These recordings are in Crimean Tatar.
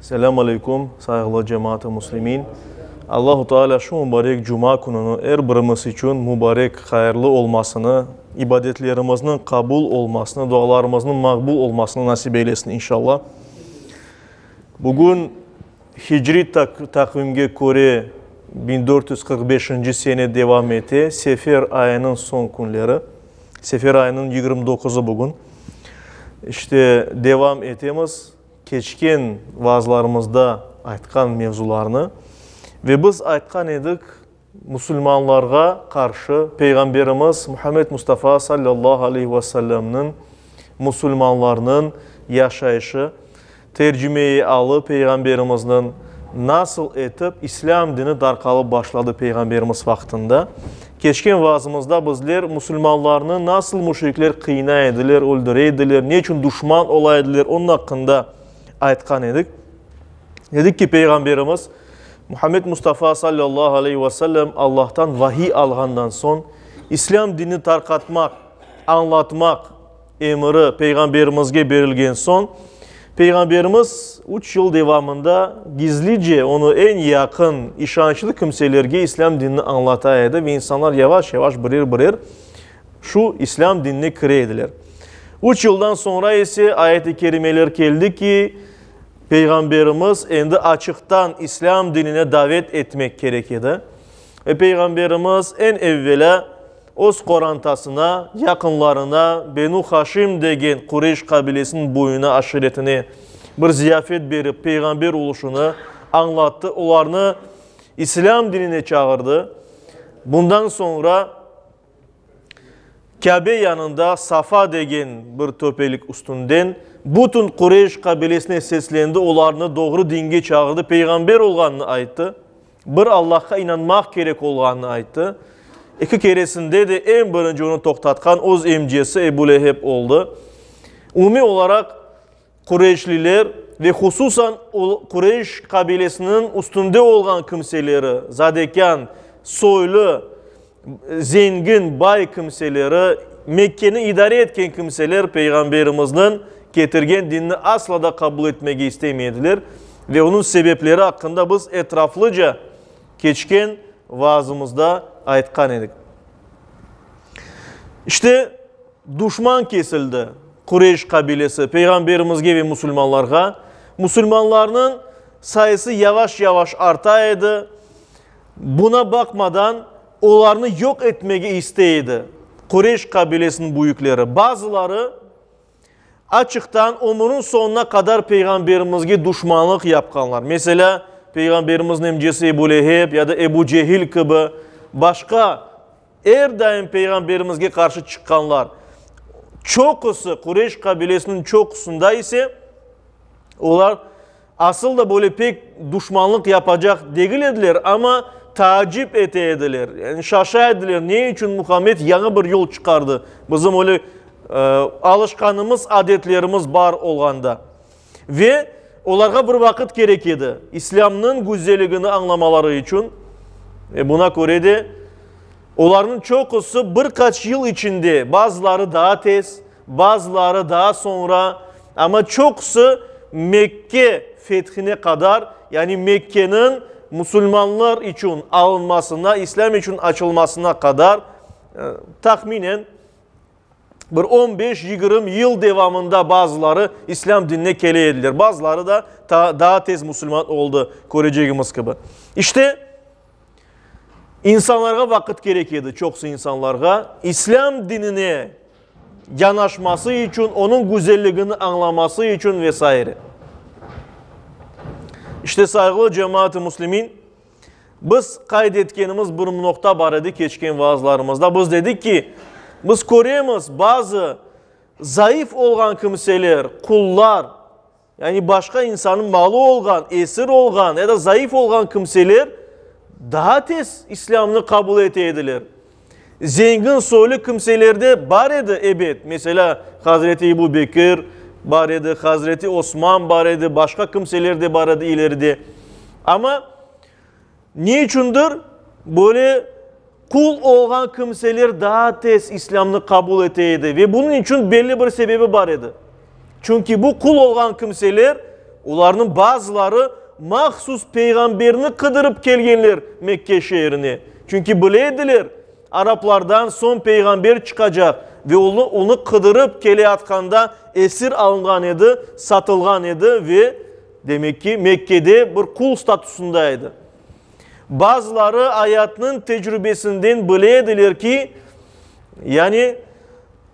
Selâm aleyküm, sayğılı cemaat-ı muslimin! Allahu Teala şu mubarek cuma kününi er birimiz içün mubarek, hayırlı olmasını, ibadetlerimizniñ qabul olmasını, dualarımıznıñ maqbul olmasını nasip eylesin, inşalla. Bugün hicri taqvimge köre biñ dört yüz qırq beşinci sene devam ete, Sefer ayınıñ soñ künleri. Sefer ayınıñ yigirmi doquzı bugün. İşte, devam etemiz. Keçken vaazlarımızda aytqan mevzularnı ve biz aytqan edik, musulmanlarğa qarşı Peyğamberimiz Muhammed Mustafa sallallahu aleyhi ve sellemniñ, musulmanlarnıñ yaşayışı, tercüme-i alı Peyğamberimizniñ nasıl etip islâm dini darqalıp başladı Peyğamberimiz vaqtında, Keçken vaazımızda bizler musulmanlarnı nasıl müşrikler qıynay ediler, öldüre ediler, ne içün duşman ola ediler, onıñ aqqında aytqan edik. Dedik ki, Peyğamberimiz Muhammed Mustafa sallallahu aleyhi ve sellem Allahtan vahiy alğandan soñ, İslâm dinini tarqatmaq, añlatmaq, Emiri Peyğamberimizge berilgen soñ, Peyğamberimiz üç yıl devamında gizlice onı eñ yaqın, işançlı kimselerge İslâm dinini añlata edi ve insanlar yavaş-yavaş birer-birer şu İslâm dinine kire ediler. Üç yıldan soñra ise ayet-i kerimeler keldi ki, Peyğamberimiz endi açıqtan İslâm dinine davet etmek kerek edi. Ve Peyğamberimiz eñ evvelâ Öz qorantasına, yaqınlarına, Benu Haşim degen Qureyş qabilesiniñ boyuna aşiretine bir ziyafet berip, peyğamber oluşını añlattı, olarnı İslâm dinine çağırdı. Bundan soñra Kâbe yanında Safa degen bir töpelik üstünden bütün Qureyş qabilesine seslendi, olarnı doğru dinge çağırdı, peyğamber olğanını ayttı. Bir Allahqa inanmaq kerek olğanını ayttı. Eki keresinde de eñ birinci onı toqtatqan öz emcesi Ebu Leheb oldı. Umumiy olaraq, qureyşliler ve hususan Qureyş qabilesiniñ üstünde olğan kimseleri, zadekân, soylu Zengin, bay kimseleri, Mekkeni idare etken kimseler Peyğamberimizniñ ketirgen dinini asla da qabul etmege istemey ediler ve onıñ sebepleri aqqında biz etraflıca keçken vaazımızda aytqan edik. İşte, duşman kesildi, Qureyş qabilesi, Peyğamberimizge ve musulmanlarğa. Musulmanlarnıñ sayısı yavaş-yavaş arta edi. Buna baqmadan, olarnı yoq etmege istey edi. Qureyş qabilesiniñ büyükleri, bazıları açıqtan ömürüñ soñuna qadar Peyğamberimizge duşmanlıq yapqanlar. Meselâ, Peyğamberimizniñ emcesi Ebu Leheb ya da Ebu Cehil kibi başqa Er daim Peyğamberimizge qarşı çıqqanlar, çoqusı, Qureyş qabilesiniñ çoqusında ise, olar asıl da böyle pek duşmanlıq yapacaq degil ediler, amma taacip ete ediler, yani şaşa ediler, ne içün Muhammed yañı bir yol çıqardı, bizim öyle alışqanımız, adetlerimiz bar olğanda. Ve olarğa bir vaqıt kerek edi, İslâmnıñ güzeligini añlamaları içün. Ve buna köre de, olarnıñ çoqusı bir qaç yıl içinde, bazıları daa tez, bazıları daa soñra, amma çoqusı Mekke fethine qadar, yani Mekkeniñ musulmanlar içün alınmasına, İslâm içün açılmasına qadar, tahminen bir on beş, yigirmi yıl devamında bazıları İslâm dinine kele ediler, bazıları da ta daa tez musulman oldı, körecegimiz kibi. İşte, insanlarğa vaqıt kerek edi, çoqusı insanlarğa İslâm dinine yanaşması içün, onıñ güzelligini añlaması içün ve saire. İşte, sayğılı cemaat-ı muslimin, Biz qayd etkenimiz bir noqta bar edi keçken vaazlarımızda. Biz dedik ki, biz köremiz, bazı zayıf olğan kimseler, qullar, yani başqa insannıñ malı olğan, esir olğan ya da zayıf olğan kimseler daa tez İslâmnı qabul ete ediler. Zengin soylu kimseler de bar edi, ebet, meselâ, hazreti Ebu Bekir bar edi, hazreti Osman bar edi, başqa kimseler de bar edi ileride. Amma ne içündir böyle qul olğan kimseler daa tez İslâmnı qabul ete edi ve bunıñ içün belli bir sebebi bar edi. Çünki bu qul olğan kimseler, olarnıñ bazıları mahsus Peyğamberni qıdırıp kelgenler Mekke şeerine. Çünki bile ediler, araplardan soñ Peyğamber çıqacaq ve onı qıdırıp keleyatqanda esir alınğan edi, satılğan edi ve, demek ki, Mekkede bir qul statusında edi. Bazıları ayatnıñ tecrübesinden bile ediler ki, yani,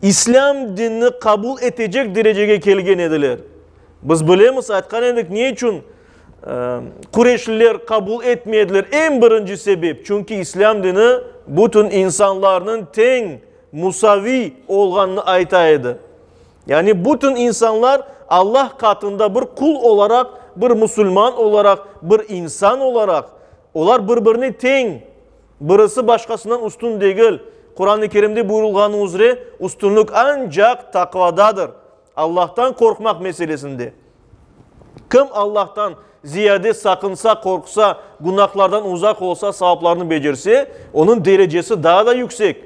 İslâm dinni qabul etecek derecege kelgen ediler. Biz bilemiz, aytqan edik, ne içün qureşliler qabul etmey ediler, eñ birinci sebep, çünki İslâm dini bütün insanlarnıñ teñ, musaviy olğanını ayta edi. Yani bütün insanlar Allah qatında bir qul olaraq, bir musulman olaraq, bir insan olaraq, olar bir-birine teñ, Birisi başqasından üstün degil. Quran-ı Kerimde buyurulğanı üzre, üstünlik ancaq taqvadadır, Allahtan qorqmaq meselesinde. Kim Allahtan ziyade saqınsa, qorqsa, günahlardan uzaq olsa, savaplarnı becerse, onıñ derecesi daa da yüksek.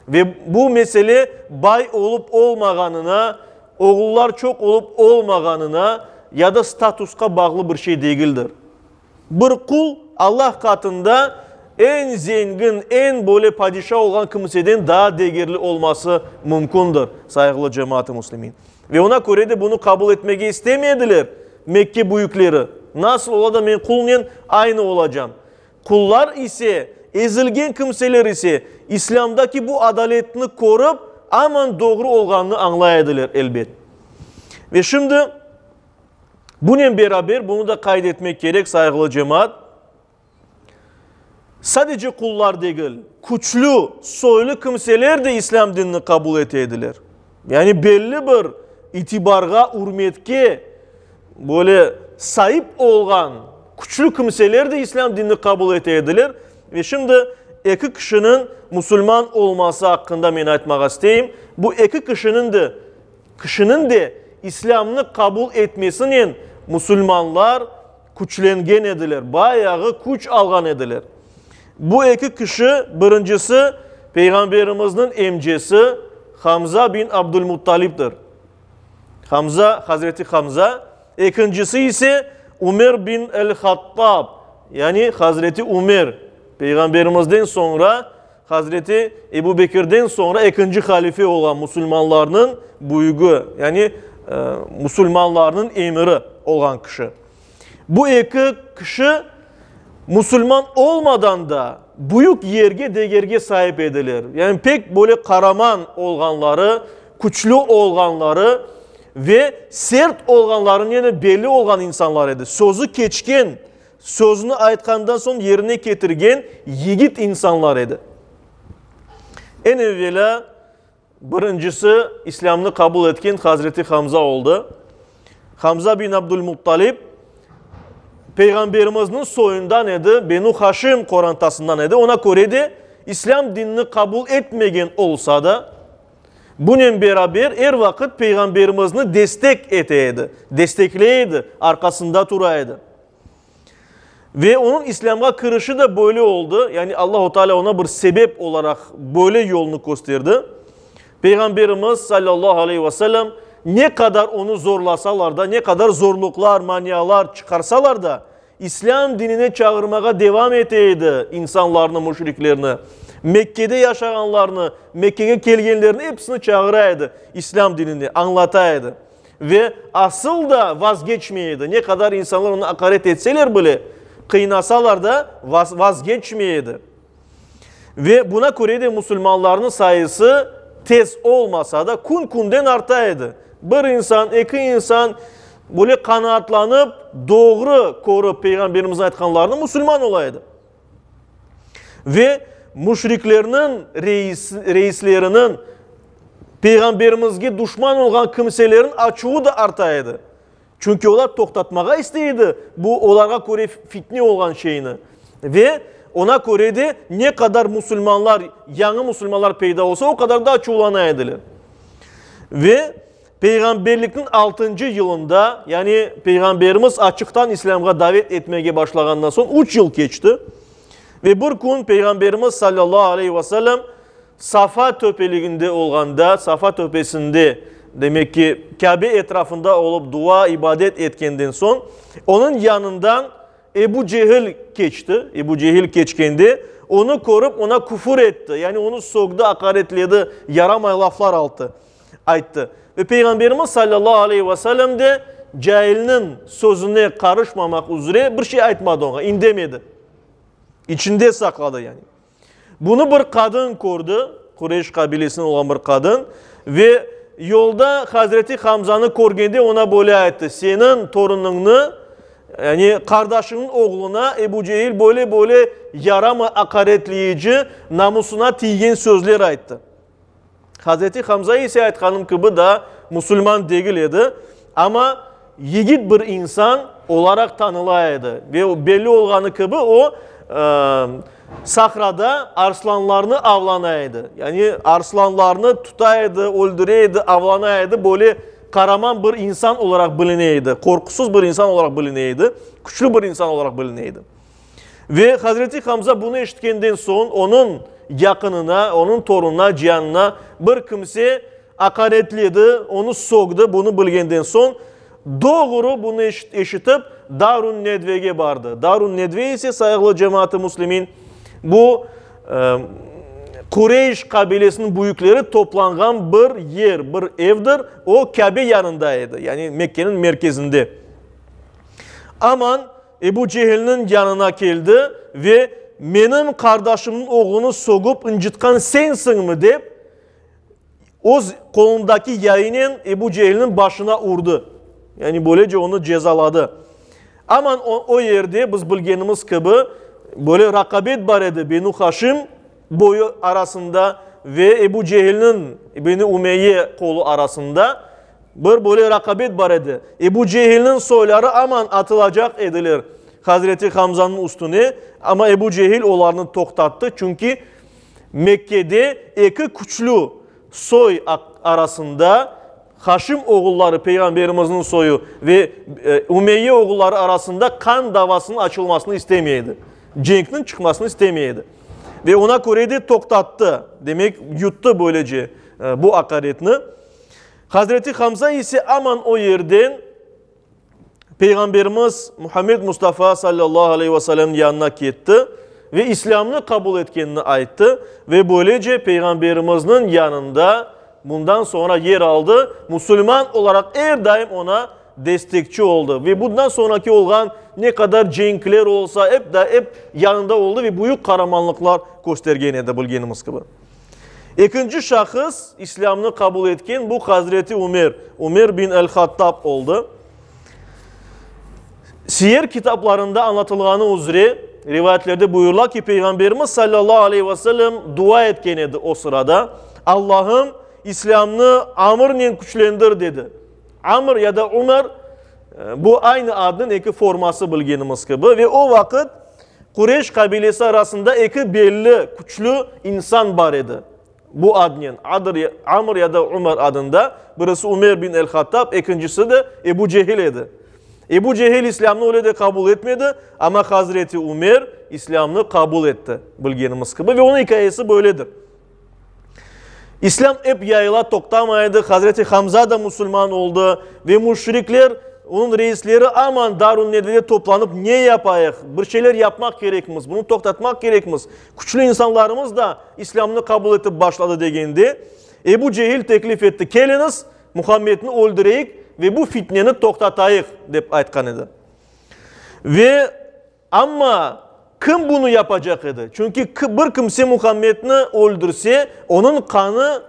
Ve bu mesele bay olıp-olmağanına, oğullar çoq olıp-olmağanına ya da statusqa bağlı bir şey degildir. Bir qul Allah qatında eñ zengin, eñ böyle padişa olğan kimseden daa degerli olması mümkündir, sayğılı cemaat-ı muslimin. Ve oña köre de bunı qabul etmege istemey ediler Mekke büyükleri. Nasıl ola da men qulnen aynı olacam? Qullar ise, ezilgen kimseler ise, İslâmdaki bu adaletni körip, aman doğru olğanını añlay ediler, elbet. Ve şimdi. Bunen beraber, bunı da qayd etmek kerek, sayğılı cemaat, sadece qullar degil, küçlü, soylu kimseler de islâm dinini qabul ete ediler. Yani belli bir itibarğa, ürmetke böyle saip olğan küçlü kimseler de islâm dinini qabul ete ediler. Ve şimdi eki kişiniñ musulman olması aqqında men aytmağa isteyim. Bu eki kişiniñ de Kişiniñ de İslâmnı qabul etmesinen musulmanlar küçlengen ediler, bayağı küç alğan ediler. Bu eki kişi, birincisi, Peyğamberimizniñ emcesi Hamza bin Abdul-Muttalibdir, Hamza, Hazreti Hamza, ekincisi ise Ümer bin el-Hattab, yani Hazreti Ümer, Peyğamberimizden soñra Hazreti Ebu Bekirden soñra ekinci halife olğan musulmanlarnıñ büyügi, yani musulmanlarnıñ emiri olğan kişi. Bu eki kişi musulman olmadan da büyük yerge degerge saip ediler. Yani pek böyle qaraman olğanları, küçlü olğanları ve sert olğanlarınen belli olğan insanlar edi. Sözü keçken. Sözüni aytqandan soñ yerine ketirgen yigit insanlar edi. Eñ evvelâ birincisi İslâmnı qabul etken Hazreti Hamza oldı. Hamza bin Abdul-Muttalib Peyğamberimizniñ soyundan edi, Benu Haşim qorantasından edi. Oña köre de İslâm dinini qabul etmegen olsa da, Bunen beraber, er vaqıt Peyğamberimizni destek ete edi, destekley edi, arqasında tura edi. Ve onıñ İslâmğa kirişi de böyle oldı, yani Allahu Teala oña bir sebep olaraq böyle yolnı kösterdi. Peyğamberimiz, sallallahu aleyhi ve sellem, ne qadar onı zorlasalar da, ne qadar zorluqlar, manialar çıqarsalar da, İslâm dinine çağırmağa devam ete edi, insanlarnı, müşriklerni, Mekkede yaşağanlarnı, Mekkege kelgenlerni episini çağıra edi İslâm dinine, añlata edi. Ve asıl da vazgeçmey edi, ne qadar insanlar onı aqaret etseler bile, qıynasalar da, vazgeçmey edi. Ve buna köre de musulmanlarnıñ sayısı tez olmasa da kün-künden arta edi. Bir insan, eki insan böyle qanaatlanıp, doğru körip Peyğamberimizniñ aytqanlarını musulman ola edi. Ve müşriklerniñ reisleriniñ Peyğamberimizge duşman olğan kimseleriñ açuvı da arta edi. Çünki olar toqtatmağa istey edi bu olarğa köre fitne olğan şeyni. Ve oña köre de ne qadar musulmanlar, yañı musulmanlar peyda olsa, o qadar daa çuvlana ediler. Ve peyğamberlikniñ altıncı yılında, yani Peyğamberimiz açıqtan İslâmğa davet etmege başlağandan soñ üç yıl keçti. Ve bir kün Peyğamberimiz salâllahu aleyhi ve sellem Safa töpeliginde olğanda, Safa töpesinde, demek ki, Kâbe etrafında olıp dua, ibadet etkenden soñ, onıñ yanından Ebu Cehil keçti. Ebu Cehil keçkende, onı körip, ona küfür etti, yani onı sögdi, aqaretledi, yaramay laflar altı, ayttı. Ve Peyğamberimiz sallallahu aleyhi ve sellem de cailniñ sözüne qarışmamaq üzre bir şey aytmadı oña, indemedi, içinde saqladı, yani. Bunı bir qadın kördi, Qureyş qabilesinden olğan bir qadın, ve yolda Hazreti Hamzanı körgende oña böyle ayttı, Seniñ torunıñnı, yani qardaşıñnıñ oğluna Ebu Cehil böyle-böyle yaramay aqaretleyici, namusına tiygen sözler ayttı. Hazreti Hamza ise aytqanım kibi daa musulman degil edi, amma yigit bir insan olaraq tanıla edi ve belli olğanı kibi o, sahrada arslanlarnı avlana edi, yani arslanlarnı tuta edi, öldüre edi, avlana edi, böyle qaraman bir insan olaraq biline edi, qorqusız bir insan olaraq biline edi, küçlü bir insan olaraq biline edi. Ve hazreti Hamza bunı eşitkenden soñ onıñ yaqınına, onıñ torunına, cianına bir kimse aqaretledi, onı soqtı, bunı bilgenden soñ doğru bunı eşitip Darun Nedvege bardı. Darun Nedve ise sayıqlı cemaatı muslimin bu Qureyş qabilesiniñ büyükleri toplanğan bir yer, bir evdir, o Kabe yanında edi, yani Mekkeniñ merkezinde. Aman. Ebu Cehilniñ yanına keldi ve, Menim qardaşımnıñ oğlunı sogup ıncıtqan sensiñmi? dep, öz qolundaki yayınen Ebu Cehilniñ başına urdı. Yani böylece onı cezaladı. Aman o yerde, biz bilgenimiz kibi, böyle raqabet bar edi Benu Haşim boyu arasında ve Ebu Cehilniñ, Beni Ümeyye qolu arasında. Bir böyle raqabet bar edi. Ebu Cehilniñ soyları aman atılacaq ediler Hazreti Hamzanıñ üstüne, amma Ebu Cehil olarnı toqtattı, çünki Mekkede eki küçlü soy arasında, Haşim oğulları, Peyğamberimizniñ soyu, ve Ümeyye oğulları arasında qan davasınıñ açılmasını istemey edi, cenkniñ çıqmasını istemey edi. Ve ona köre de toqtattı, demek, yuttı böylece bu aqaretni. Hazreti Hamza ise aman o yerden Peyğamberimiz Muhammed Mustafa sallallahu aleyh ve sellemniñ yanına ketti ve İslâmnı qabul etkenini ayttı ve böylece Peyğamberimizniñ yanında bundan soñra yer aldı, musulman olaraq er daim oña destekçi oldı ve bundan soñraki olğan ne qadar cenkler olsa ep, ep yanında oldı ve büyük qaramanlıqlar köstergen edi, bilgenimiz kibi. Ekinci şahıs İslâmnı qabul etken bu Hazreti Ümer, Ümer bin el-Hattab, oldı. Siyer kitaplarında añlatılğanı üzre, rivayetlerde buyurıla ki, Peyğamberimiz sallallahu aleyh ve sellem dua etken edi o sırada, Allahım, İslâmnı amırnen küçlendir, dedi. Amr ya da Umar, bu aynı adnıñ eki forması bilgenimiz kibi ve o vaqıt Qureyş qabilesi arasında eki belli, küçlü insan bar edi bu adnen, Adr, Amr ya da Umar adında, birisi Umer bin el-Hattab, ekincisi de Ebu Cehil edi. Ebu Cehil İslâmnı öyle de qabul etmedi, amma Hazreti Umer İslâmnı qabul etti, bilgenimiz kibi ve onıñ ikâyesi böyledir. İslâm ep yayıla toqtamaydı, Hazreti Hamza da musulman oldı ve müşrikler, onıñ reisleri aman Darun Nedvede toplanıp ne yapayıq, bir şeyler yapmaq kerekmiz, bunı toqtatmaq kerekmiz, küçlü insanlarımız da İslâmnı qabul etip başladı degende, Ebu Cehil teklif etti, keliñiz, Muhammedni öldüreyik ve bu fitneni toqtatayıq, dep aytqan edi. Ve Amma kim bunı yapacaq edi? Çünki bir kimse Muhammedni öldürse, onıñ qanı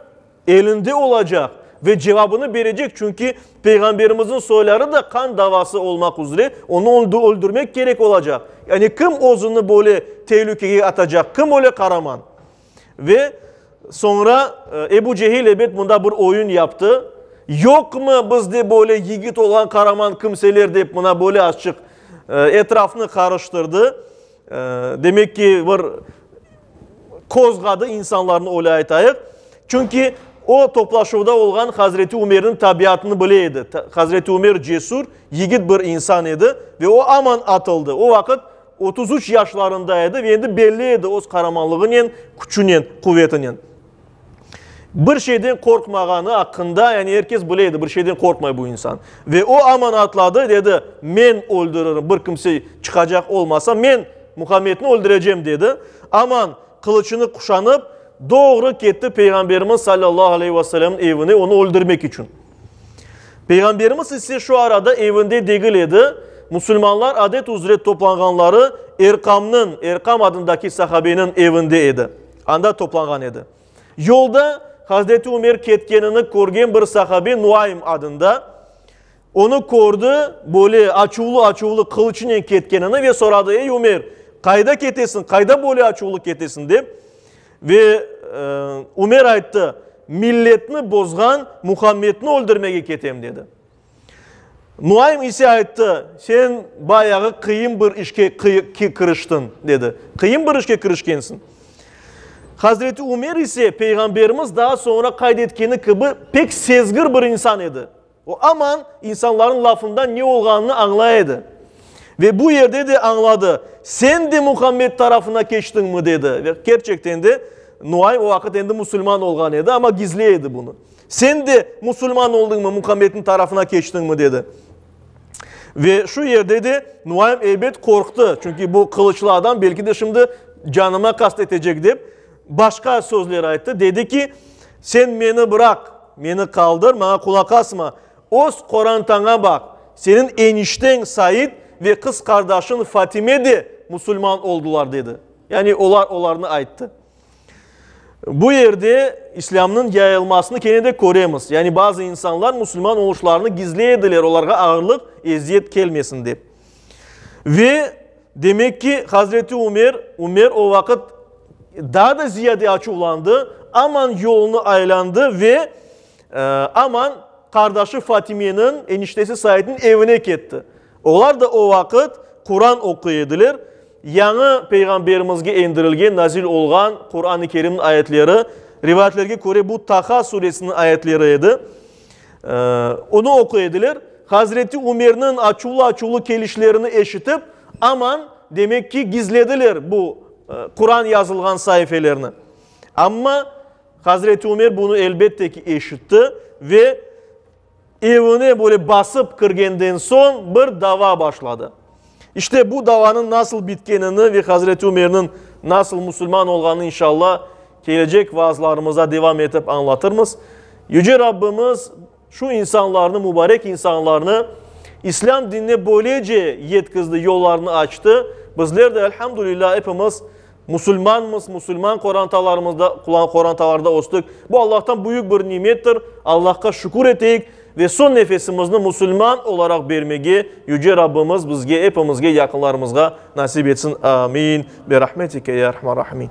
elinde olacaq ve cevabını berecek, çünki Peyğamberimizniñ soyları da qan davası olmaq üzre onı öldürmek kerek olacaq. Yani kim özüni böyle telükege atacaq, kim öyle qaraman? Ve soñra Ebu Cehil ebet mında bir oyun yaptı. Yoqmı bizde böyle yigit olğan qaraman kimseler dep mına böyle açıq etrafnı qarıştırdı. Demek ki, bir qozğadı insanlarnı, öyle aytayıq. Çünki o toplaşuvda olğan Hazreti Ümerniñ tabiatını bile edi. Hazreti Ümer cesur, yigit bir insan edi ve o aman atıldı. O vaqıt Otuz üç yaşlarında edi ve endi belli edi öz qaramanlığınen, küçünen, quvetinen. Bir şeyden qorqmağanı aqqında, yani er kes bile edi, bir şeyden qorqmay bu insan. Ve o aman atladı, dedi, men öldürürüm, bir kimse çıqacaq olmasa, men Muhammedni öldürecem, dedi. Aman qılıçını quşanıp, doğru ketti Peyğamberimiz sallallahu aleyhi ve sellemniñ evine, onı öldürmek içün. Peyğamberimiz ise şu arada evinde degil edi, musulmanlar adet üzre toplanğanları Erqamnıñ, Erqam adındaki sahabeniñ evinde edi, anda toplanğan edi. Yolda Hazreti Ümer ketkenini körgen bir sahabe Nuaym adında, onı kördi, böyle açuvlı-açuvlı qılıçınen ketkenini ve soradı, Ey Ümer, qayda ketesiñ, qayda böyle açuvlı ketesiñ? dep. Ve Ümer ayttı, Milletni bozğan Muhammedni öldürmege ketem, dedi. Nuaym ise ayttı, Sen bayağı qıyın bir işke kiriştiñ, dedi. Qıyın bir işke kirişkensiñ. Hazreti Ümer ise Peyğamberimiz daa soñra qayd etkeni kibi pek sezgir bir insan edi. O aman insanlarnıñ lafından ne olğanını añlay edi. Ve bu yerde de añladı. Sen de Muhammed tarafına keçtiñmi? dedi. Ve kerçekten de Nuaym o vaqıt endi musulman olğan edi, amma gizley edi bunı. Sen de musulman oldıñmı, Muhammedniñ tarafına keçtiñmi? dedi. Ve şu yerde de Nuaym eybet qorqtı. Çünki bu qılıçlı adam belki de şimdi canıma qast etecek dep başqa sözler ayttı. Dedi ki, sen meni bıraq. Meni qaldır, maña qulaq asma. Öz qorantaña baq. Seniñ enişteñ Said ve qız qardaşıñ Fatime de musulman oldılar, dedi. Yani olar olarnı ayttı. Bu yerde İslâmnıñ yayılmasını kene de köremiz. Yani bazı insanlar musulman oluşlarını gizley ediler, olarğa ağırlıq, eziyet kelmesin dep. Ve, demek ki, Hazreti Ümer, Ümer o vaqıt daa da ziyade açuvlandı, aman yolunı aylandı ve aman qardaşı Fatimeniñ, eniştesi Saidniñ evine ketti. Olar da o vaqıt Quran oquy ediler, yañı Peyğamberimizge endirilgen, nazil olğan Quran-ı Kerimniñ ayetleri, rivayetlerge köre, bu Taha suresiniñ ayetleri edi. Onı oquy ediler. Hazreti Ümerniñ açuvlı-açuvlı kelişlerini eşitip, aman, demek ki, gizlediler bu Quran yazılğan saifelerni. Amma Hazreti Ümer bunı elbette ki, eşitti ve evine böyle basıp kirgenden soñ bir dava başladı. İşte bu davanıñ nasıl bitkenini ve Hazreti Ümerniñ nasıl musulman olğanını inşalla kelecek vaazlarımızda devam etip añlatırmız. Yüce Rabbimiz şu insanlarnı, mübarek insanlarnı İslâm dinine böylece yetkizdi, yollarını açtı. Bizler de, elhamdülillah, epimiz Musulmanmız, musulman qorantalarımızda, qorantalarda östük. Bu Allahtan büyük bir nimettir. Allahqa şükür eteyik ve son nefesimizni musulman olaraq bermege Yüce Rabbimiz bizge, epimizge, yaqınlarımızğa nasip etsin. Amin. Bi rahmetike ya erhamer rahimin.